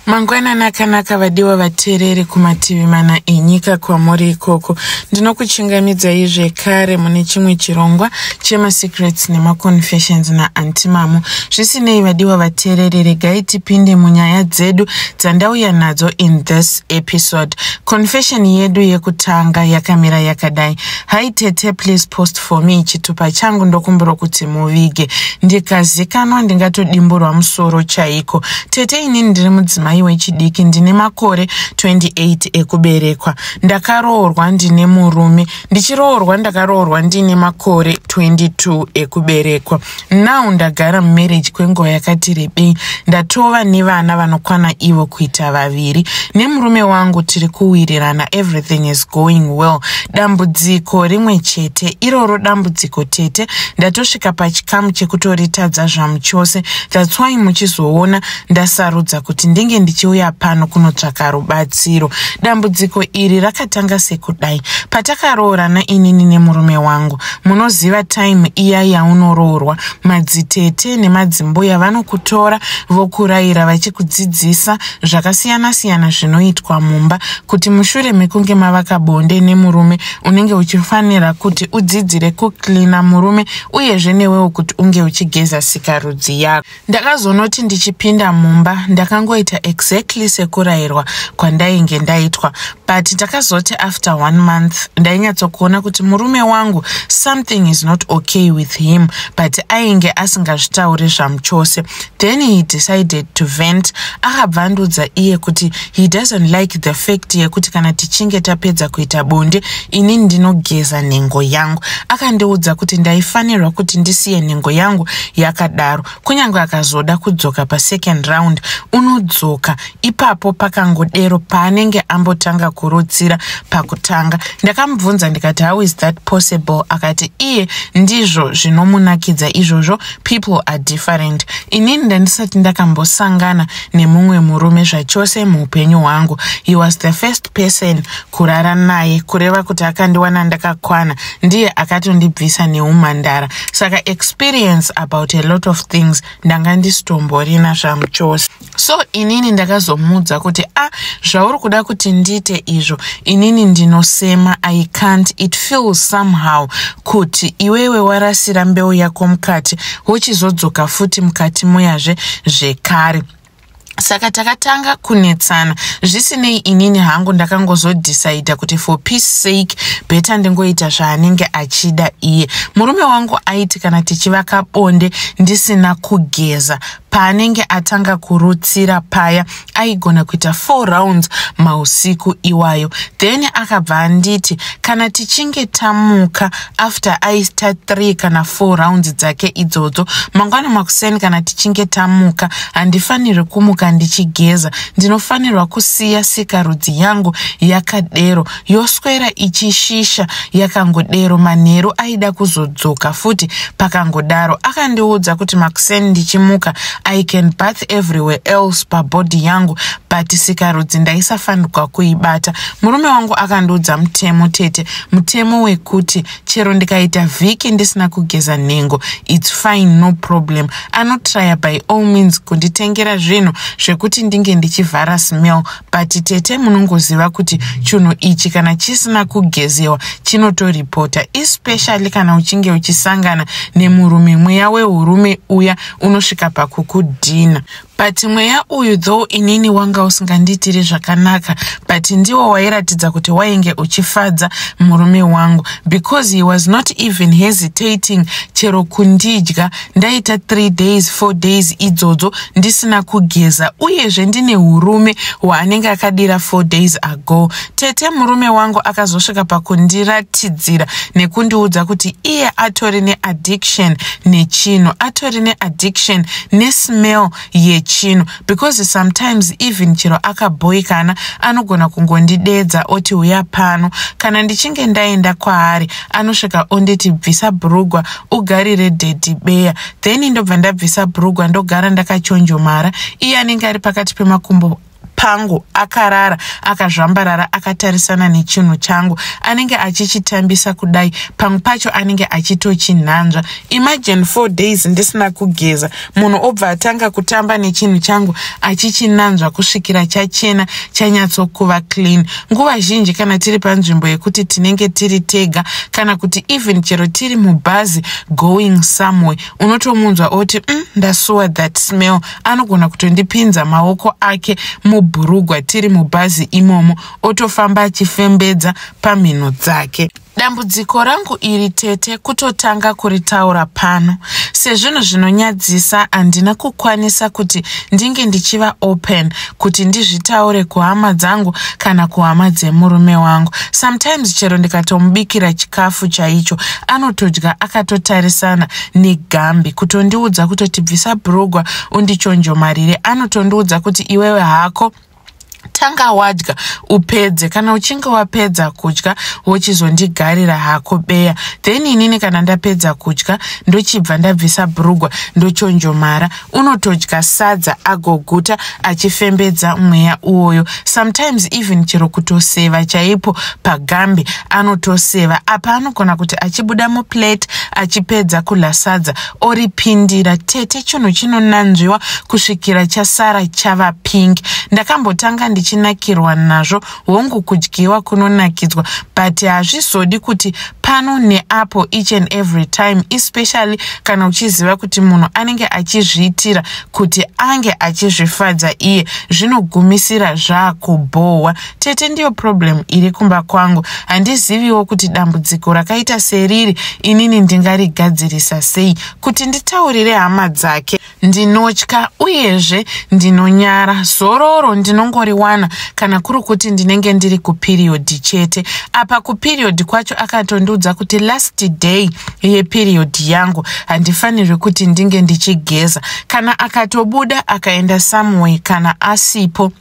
mangwanani akanaka vadiwa vateereri kumativi mana enyika kwamuri ikoko ndinokuchingamidzai zvekare mune chimwe chirongwa chemasecrets nemaconfessions naantimamo zvisinei vadiwa vateereri regai tipinde munyaya dzedu dzandauya nadzo in this episode confession yedu yekutanga yakamira yakadai Hi tete please post for me chitupa changu ndokumbiro kuti muvige ndikazikanwa ndingatodimburwa musoro chaiko tete inini ndiri mudzimai wechidiki ndine makore 28 ekuberekwa ndakaroorwa ndine murume ndichiroorwa ndakaroorwa ndine makore 22 ekuberekwa now ndagara mumarriage kwenguva yakati rebei ndatova nevana vanokwana ivo kuita vaviri nemurume wangu tiri kuwirirana everything is going well dambudziko rimwe chete iroro dambudziko tete ndatosvika pachikamu chekutoritadza zvamu chose thats why muchizoona ndasarudza kuti ndinge ndichiuya pano kunotsvaka rubatsiro dambudziko iri rakatanga sekudai patakaroorana inini nemurume wangu munoziva time iya yaunoroorwa madzitete nemadzimbuya vanokutora vokurayira vachikudzidzisa zvakasiyana siyana zvinoitwa mumba kuti mushure mekunge mavaka bonde nemurume unenge uchifanira kuti udzidzire kuclina murume uyezve newewo kuti unge uchigeza sikarudzi yako Ndakazonoti ndichipinda mumba ndakangoita exactly sekurairwa kwandainge ndaitwa but ndakazoti after one month ndainyatsokuona kuti murume wangu something is not okay with him but ainge asingazvitauri zvamuchose then he decided to vent akabva andiudza iye kuti He doesn't like the fact yekuti kana tichinge tapedza kuita bonde ini ndinogeza nhengo yangu. Akandiudza kuti ndaifanirwa kuti ndisiye nhengo yangu yakadaro. Kunyange akazoda kudzoka pa second round unodzoka. Ipapo pakangodero paanenge ambotanga kurutsira pakutanga. Ndakamubvunza ndikati how is that possible? Akati iye ndizvo zvinomunakidza izvozvo people are different. Inini ndandisati ndakambosangana nemumwe murume zvachose muupenyu hwangu he was the first person kurara naye kureva kuti akandiwana ndakakwana ndiye akatondibvisa neumhandara saka experience about a lot of things ndanga ndisitomborina zvamuchose so inini ndakazomuudza kuti a ah, zvauri kuda kuti ndiite izvo inini ndinosema i can't it feels somehow kuti iwewe warasira mbeu yako mukati wochizodzoka futi mukati muyazve zvekare saka takatanga kunetsana zvisinei inini hangu ndakangozodhisaidha kuti for peace sake beta ndingoita zvaanenge achida iye murume wangu aiti kana tichivaka bonde ndisina kugeza paanenge atanga kurutsira paya aigona kuita four rounds mausiku iwayo then akabva anditi kana tichinge tamuka after aita three kana four rounds dzake idzodzo mangwana makuseni kana tichinge tamuka handifanirwi kumuka ndichigeza ndinofanirwa kusiya sikarudzi yangu yakadero yoswera ichishisha yakangodero manheru aida kuzodzoka futi pakangodaro akandiudza kuti makuseni ndichimuka i can bath everywhere else pabhodhi yangu but sikarudzi ndaisafanirwa kuibata murume wangu akandiudza mutemo tete mutemo wekuti chero ndikaita vhiki ndisina kugeza nhengo its fine no problem anotraya by all means kunditengera zvinhu zvekuti ndinge ndichivhara smell but tete munongoziva kuti chunhu ichi kana chisina kugezewa chinotoripota especially kana uchinge uchisangana nemurume mweya weurume uya unosvika pakukudhina but mweya uyu though inini wanga usingandiitiri zvakanaka but ndiwo wairatidza kuti wainge uchifadza murume wangu because he was not even hesitating chero kundidya ndaita three days four days idzodzo ndisina kugeza uyezve ndine urume hwaanenge akadira four days ago tete murume wangu akazosvika pakundiratidzira nekundiudza kuti iye atori neaddiction nechinhu atori neaddiction nesmell yechinhu because sometimes even chero akabhoikana anogona kungondideedza oti uya pano kana ndichinge ndaenda kwaari anosvika onditi bvisa bhurugwa ugarire dhedhi beya then ndobva ndabvisa bhurugwa ndogara ndakachonjomara iye anenge ari pakati pemakumbo pangu akarara akazvambarara akatarisana nechinhu changu anenge achichitambisa kudai pamwe pacho anenge achitochinhanzva imagine four days ndisina kugeza munhu obva atanga kutamba nechinhu changu achichinanzva kusvikira chachena chanyatsokuva clean nguva zhinji kana tiri panzvimbo yekuti tinenge tiri tega kana kuti even chero tiri mubhazi going somewhere unotomunzwa oti mm, ndasuwa that smell anogona kutondipinza maoko ake mubhurugwa tiri mubhazi imomo otofamba achifembedza pamhino dzake Dambudziko rangu iri tete kutotanga kuritaura pano. Sezvinhu zvinonyadzisa handina kukwanisa kuti ndinge ndichiva open kuti ndizvitaure kuhama dzangu kana kuhama dzemurume wangu. Sometimes chero ndikatomubikira chikafu chaicho anotodya akatotarisana negambi kutondiudza kutotibvisa brugwa undichonjomarire anotondiudza kuti iwewe hako tanga wadya upedze kana uchinge wapedza kudya wochizondigarira hako beya then inini kana ndapedza kudya ndochibva ndabvisa brugwa ndochonjomara unotodya sadza agoguta achifembedza mweya uwoyo sometimes even chero kutoseva chaipo pagambe anotoseva apa anogona kuti achibuda muplate achipedza kudla sadza oripindira tete chinhu chinonanzviwa kusvikira chasara chava pink ndakambotanga ndichinakirwa nazvo hongu kudyiwa kunonakidzwa but hazvizodi kuti pano neapo each and every time especially kana uchiziva kuti munhu anenge achizviitira kuti ange achizvifadza iye zvinogumisira zvaakubhohwa tete ndiyo problem iri kumba kwangu handiziviwo kuti dambudziko rakaita seriri inini ndingarigadzirisa sei kuti nditaurire hama dzake ndinotya uyezve ndinonyara zororo ndinongoriwana kana kuri kuti ndinenge ndiri kupiriyodhi chete apa kupiriyodhi kwacho akatondiudza kuti last day yepiriyodhi yangu handifanirwi kuti ndinge ndichigeza kana akatobuda akaenda someway kana asipo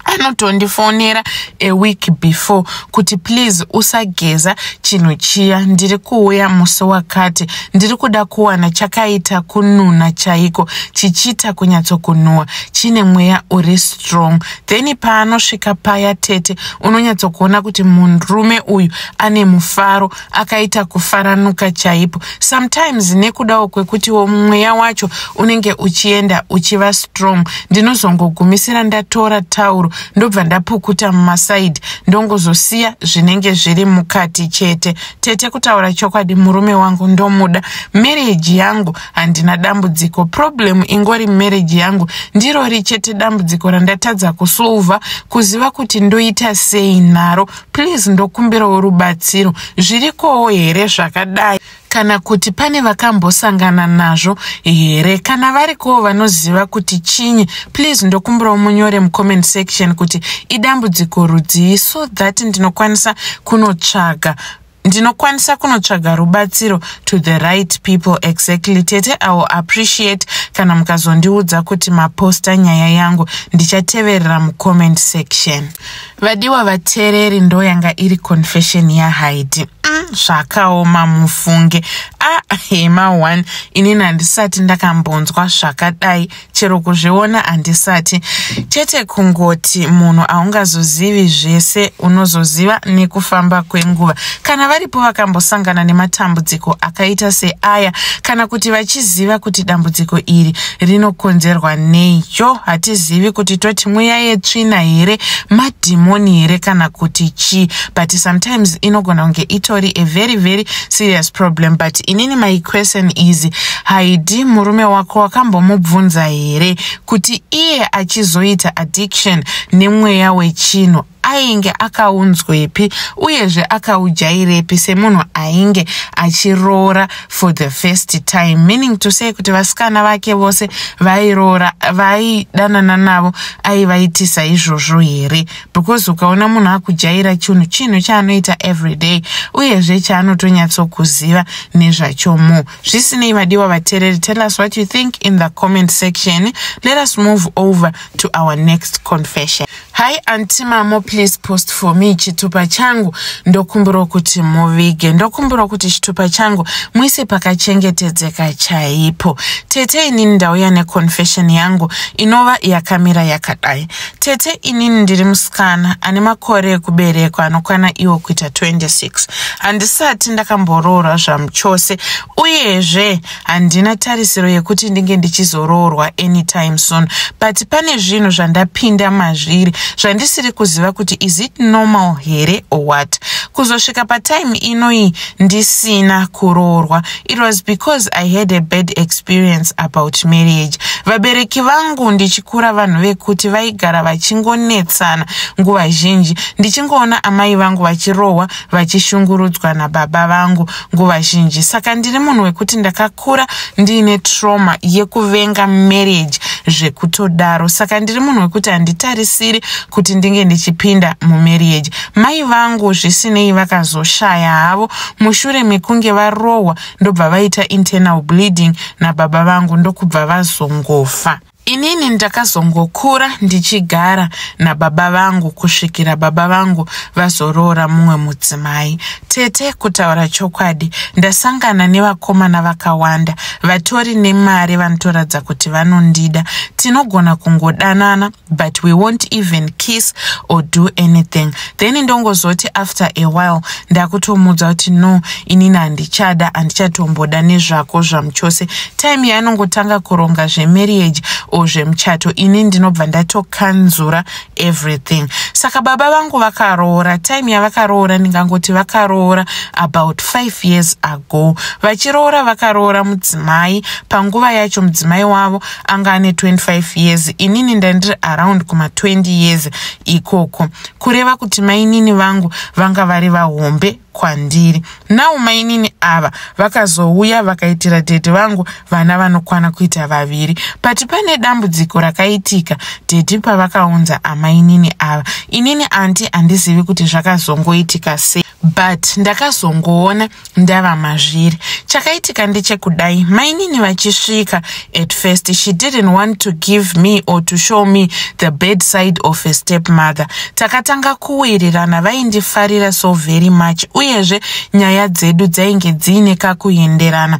anotondifonera a week before kuti please usageza chinhu chiya ndiri kuuya musi wakati ndiri kuda kuwana chakaita kununa chaiko chichiita kunyatsokunhuwa chine mweya uri strong then paanosvika paya tete unonyatsokuona kuti murume uyu ane mufaro akaita kufaranuka chaipo sometimes nekudawo kwekutiwo mweya wacho unenge uchienda uchiva strong ndinozongogumisira ndatora tauro ndobva ndapukuta mumasaidi ndongozosiya zvinenge zviri mukati chete tete kutaura chokwadi murume wangu ndomuda marriage yangu handina dambudziko problem ingori marriage yangu ndirori chete dambudziko randatadza kusolva kuziva kuti ndoita sei naro Please ndokumbirawo rubatsiro zvirikowo here zvakadai kana kuti pane vakambosangana nazvo here kana varikowo vanoziva kuti chinyi please ndokumbirawo munyore mucomment section kuti idambudziko rudzii so that ndinokwanisa kunotsvaga ndinokwanisa kunotsvaga rubatsiro to the right people exactly tete i will appreciate kana mukazondiudza kuti maposta nyaya yangu ndichateverera mucomment section vadiwa vateereri ndo yanga iri confession yahaidi mm, zvakaoma mufunge a ah, hema one inini handisati ndakambonzwa zvakadai chero kuzviona handisati chete kungoti munhu aungazozivi zvese unozoziva nekufamba kwenguva kana varipo vakambosangana nematambudziko akaita seaya kana kuti vachiziva kuti dambudziko iri rinokonzerwa nei yo hatizivi kuti toti mweya yetsvina here madhimoni here kana kuti chii but sometimes inogona kunge itori a very very serious problem but inini my question is haidi murume wako wakambomubvunza here kuti iye achizoita addiction nemweya wechinhu ainge akaunzwepi uyezve akaujairepi semunhu ainge achiroora for the first time meaning to say kuti vasikana vake vose vairoora vaidanana navo aivaitisa izvozvo here because ukaona munhu akujaira chinhu chinhu chaanoita everyday uyezve chaanotonyatsokuziva nezvacho mu zvisinei vadiwa vatereri tell us what you think in the comment section let us move over to our next confession hi anti mamo please post for me chitupa changu ndokumbirwa kuti muvige ndokumbirwa kuti chitupa changu muise pakachengetedzeka chaipo tete inini ndauya neconfession yangu inova yakamira yakadai Tete inini ndiri musikana ane makore ekuberekwa anokwana iwo kuita 26. Handisati ndakamboroorwa zvamuchose uyezve handina tarisiro yekuti ndinge ndichizoroorwa anytime soon but pane zvinhu zvandapinda mazviri zvandisiri kuziva kuti is it normal here or what. Kuzosvika patime inoyi ndisina kuroorwa it was because i had a bad experience about marriage vabereki vangu ndichikura vanhu vekuti vaigara vachingonetsana nguva zhinji ndichingoona amai vangu vachirohwa vachishungurudzwa nababa vangu nguva zhinji saka ndiri munhu wekuti ndakakura ndiine trauma yekuvenga marriage zvekutodaro saka ndiri munhu wekuti handitarisiri kuti ndinge ndichipinda mumarriage mai vangu zvisinei vakazoshaya havo mushure mekunge varohwa ndobva vaita internal bleeding nababa vangu ndokubva vazongofa inini ndakazongokura ndichigara nababa vangu kusvikira baba vangu vazoroora mumwe mudzimai tete kutaura chokwadi ndasangana nevakomana vakawanda vatori nemari vanotoradza kuti vanondida tinogona kungodanana but we won't even kiss or do anything then ndongozoti after a while ndakutomuudza kuti no inini handichada handichatomboda nezvako zvamuchose time yaanongotanga kuronga zvemarriage or zvemuchato ini ndinobva ndatokanzura everything saka baba vangu vakaroora time yavakaroora ndingangoti vakaroora about five years ago vachiroora vakaroora mudzimai panguva yacho mudzimai wavo anga ane 25 years inini ndandiri around kuma 20 years ikoko kureva kuti mainini vangu vanga vari vahombe kwandiri now mainini ava vakazouya vakaitira dhedhi vangu vana vanokwana kuita vaviri but pane dambudziko rakaitika dhedhi pavakaunza amainini ava inini anti handizivi kuti zvakazongoitika sei but ndakazongoona ndava mazviri chakaitika ndechekudai mainini vachisvika at first she didn't want to give me or to show me the bedside of a step mother takatanga kuwirirana vaindifarira so very much uyezve nyaya dzedu dzainge dziine kakuenderana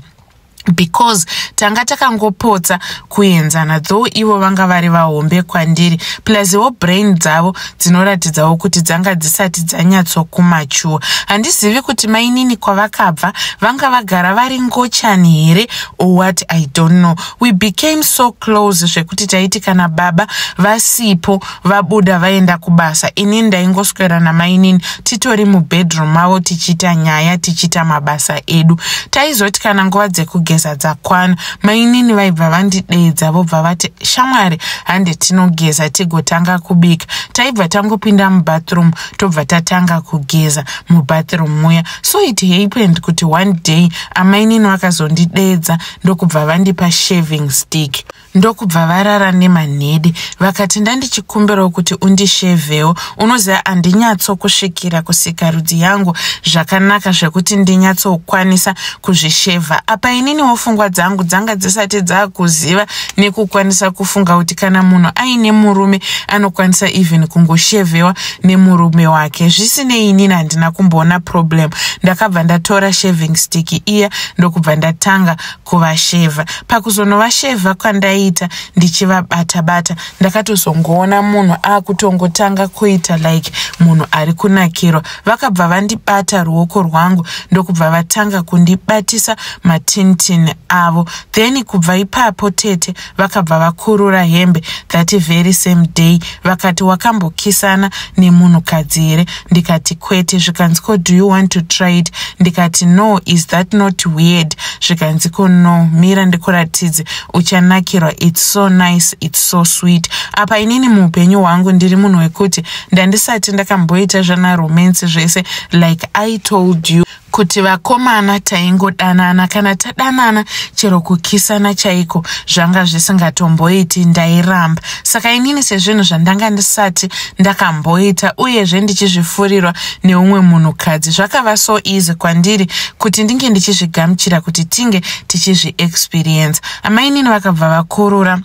because tanga takangopotsa kuenzana though ivo vanga vari vahombe kwandiri pluswo brain dzavo dzinoratidzawo kuti dzanga dzisati dzanyatsokumachuwa handizivi kuti mainini kwavakabva vanga vagara vari ngochani here or what i don't know we became so close zvekuti taiti kana baba vasipo vabuda vaenda kubasa ini ndaingoswera namainini titori mubedroom mavo tichiita nyaya tichiita mabasa edu taizoti kana nguva dzekugeza dzakwana mainini vaibva vandideedza vobva vati shamwari hande tinogeza tigotanga kubika taibva tangopinda mubathroom tobva tatanga kugeza mubathroom muya so it happened kuti one day amainini vakazondideedza ndokubva vandipa shaving stick ndokubva varara nemanhede vakati ndandichikumbirawo kuti undishevewo unoziva handinyatsokusvikira kusikarudzi yangu zvakanaka zvekuti ndinyatsokwanisa kuzvishevha apa ininiwo fungwa dzangu dzanga dzisati dzakuziva nekukwanisa kufunga kuti kana munhu aine murume anokwanisa even kungoshevewa nemurume wake zvisinei inini handina kumboona problem ndakabva ndatora shaving stick iya ndokubva ndatanga kuvashevha pakuzonovashevha kwandaita ndichivabata bata ndakatozongoona munhu akutongotanga kuita like munhu ari kunakirwa vakabva vandibata ruoko rwangu ndokubva vatanga kundibatisa matintin avo then kubva ipapo tete vakabva vakurura hembe that very same day vakati wakambokisana nemunhukadzi here ndikati kwete zvikanzi ko do you want to try it ndikati no is that not weird zvikanzi ko no mira ndikuratidze uchanakirwa its so nice its so sweet apa inini muupenyu hwangu ndiri munhu wekuti ndandisati ndakamboita zvana romance zvese like i told you kuti vakomana taingodanana kana tadanana chero kukisana chaiko zvanga zvisingatomboiti ndairamba saka inini sezvinhu zvandanga ndisati ndakamboita uyezve ndichizvifurirwa neumwe munhukadzi zvakava so easy kwandiri kuti ndinge ndichizvigamuchira kuti tinge tichizviexperience amainini vakabva vakurura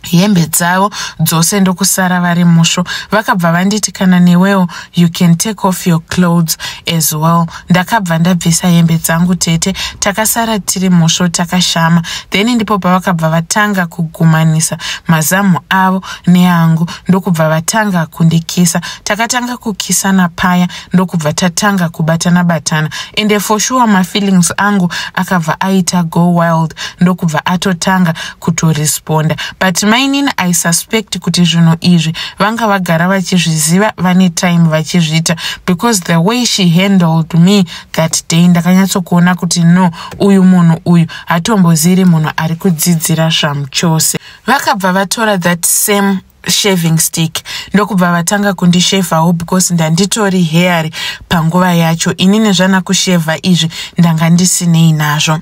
hembe dzavo dzose ndokusara vari musvo vakabva vanditi kana newewo you can take off your clothes as well ndakabva ndabvisa hembe dzangu tete takasara tiri musvo takashama then ndipo pavakabva vatanga kugumanisa mazamu avo neangu ndokubva vatanga kundikisa takatanga kukisana paya ndokubva tatanga kubatana batana ende for sure mafeelings angu akabva aita go wild ndokubva atotanga kutoresponda but mainini i suspect kuti zvinhu izvi vanga vagara vachizviziva vane time vachizviita because the way she handled me that day ndakanyatsokuona kuti no uyu munhu uyu hatomboziri munhu ari kudzidzira zvamuchose vakabva vatora that same shaving stick ndokubva vatanga kundishevhawo because ndanditori heari panguva yacho ini nezvana kushevha izvi ndanga ndisinei nazvo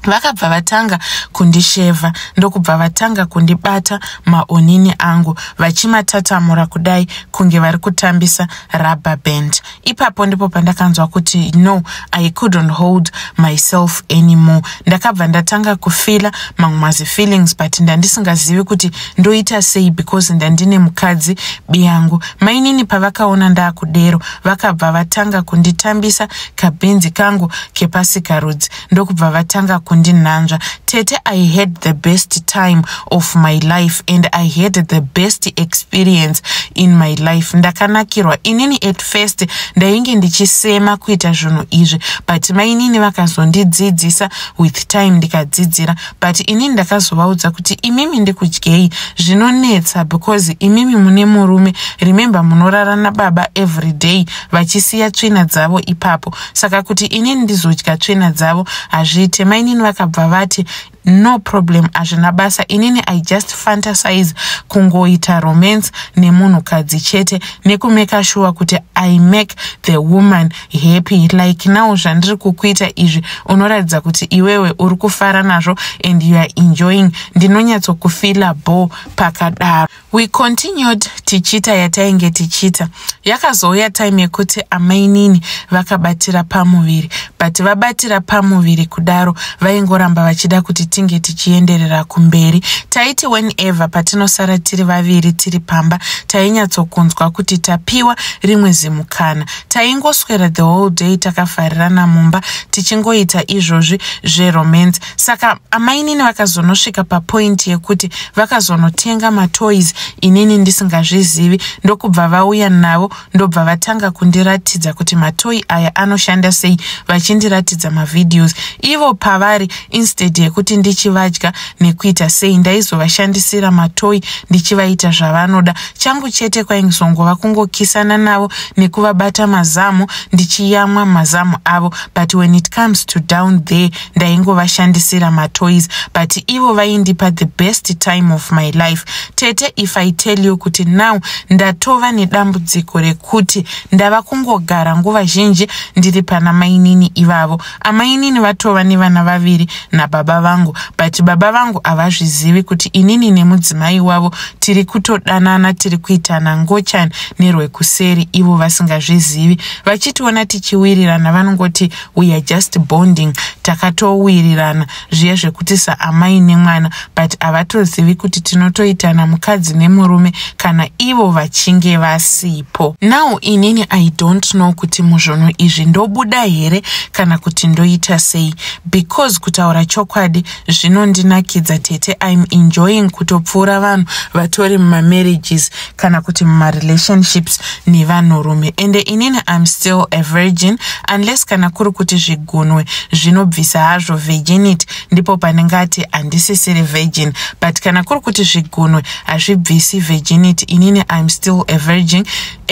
vakabva vatanga kundishevha ndokubva vatanga kundibata maonini angu vachimatatamura kudai kunge vari kutambisa rubber band ipapo ndipo pandakanzwa kuti no i couldn't hold myself anymore ndakabva ndatanga kufila mamwe mazifeelings but ndandisingazivi kuti ndoita sei because ndandine mukadzi biyangu mainini pavakaona ndaakudero vakabva vatanga kunditambisa kabhinzi kangu kepasikarudzi ndokubva vatanga kundinhanzva tete i had the best time of my life and i had the best experience in my life ndakanakirwa inini at first ndainge ndichisema kuita zvinhu izvi but mainini vakazondidzidzisa with time ndikadzidzira but inini ndakazovaudza kuti imimi ndikudyei zvinonetsa because imimi mune murume remember munorara nababa every day vachisiya tsvina dzavo ipapo saka kuti inini ndizodya tsvina dzavo hazviite mainini vakabva vati no problem hazvina basa inini i just fantasize kungoita romance nemunhukadzi chete nekumeka shuwa kuti i make the woman happy like now zvandiri kukuita izvi unoratidza kuti iwewe uri kufara nazvo and you are enjoying ndinonyatsokufila bo pakadaro we continued tichiita yatainge tichiita yakazouya time yekuti amainini vakabatira pamuviri but vabatira pamuviri kudaro vaingoramba vachida kuti tinge tichienderera kumberi taiti whenever patinosara tiri vaviri tiri pamba tainyatsokunzwa kuti tapiwa rimwe zimukana taingoswera the whole day takafarirana mumba tichingoita izvozvi zveromance saka amainini vakazonosvika papoint yekuti vakazonotenga matoys inini ndisingazvizivi ndokubva vauya navo ndobva vatanga kundiratidza kuti matoy aya anoshanda sei vachindiratidza mavideos ivo pavari instead yekuti ndichivadya nekuita sei ndaizovashandisira matoy ndichivaita zvavanoda changu chete kwaingizongova kungokisana navo nekuvabata mazamu ndichiyamwa mazamu avo but when it comes to down there ndaingovashandisira matoys but ivo vaindipa the best time of my life tete if i tell you kuti now ndatova nedambudziko rekuti ndava kungogara nguva zhinji ndiri pana mainini ivavo amainini vatova nevana vaviri nababa vangu but baba vangu havazvizivi kuti inini nemudzimai wavo tiri kutodanana tiri kuitana ngochani nerwekuseri ivo vasingazvizivi vachitiona tichiwirirana vanongoti we are just bonding takatowirirana zviya zvekuti saamai nemwana but havatozivi kuti tinotoitana mukadzi nemurume kana ivo vachinge vasipo now inini i don't know kuti muzvunhu izvi ndobuda here kana kuti ndoita sei because kutaura chokwadi zvinondinakidza tete im enjoying kutopfuura vanhu vatori mumamarriages kana kuti mumarelationships nevanhurume ende inini im still a virgin unless kana kuri kuti zvigunwe zvinobvisa hazvo virginity ndipo panenge ati handisisiri virgin but kana kuri kuti zvigunwe hazvibvisi virginity inini im still a virgin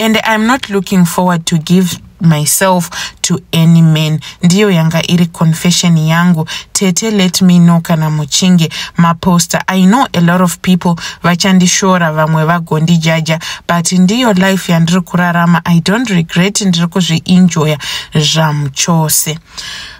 and im not looking forward to give myself to any man ndiyo yanga iri confession yangu tete let me know kana muchinge maposter i know a lot of people vachandishora vamwe vagondijaja but ndiyo life yandiri kurarama i don't regret ndiri kuzviinjoya zvamuchose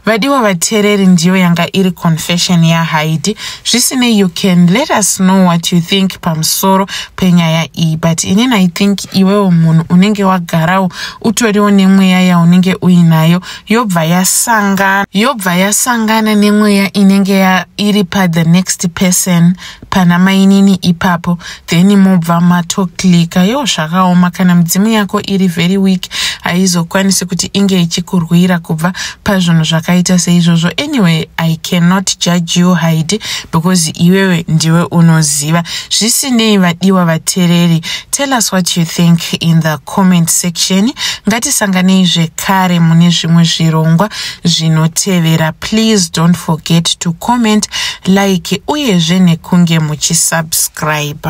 vadiwa vateereri ndiyo yanga iri confession yahaidi zvisinei you can let us know what you think pamusoro penyaya iyi but inini i think iwewo munhu unenge wagarawo utoriwo nemweya yaunenge uinayo yobva yasangana yobva yasangana nemweya inenge iri pathe next person pana mainini ipapo then mobva matoklika yo zvakaoma kana midzimu yako iri very weak haizokwanisi kuti inge ichikurwira kubva pazvinhu zvakaita seizvozvo anyway i cannot judge you hide because iwewe ndiwe unoziva zvisinei vadiwa vatereri tell us what you think in the comment section ngatisanganei zvekare mune zvimwe zvirongwa zvinotevera please don't forget to comment like uyezve nekunge muchisubscribe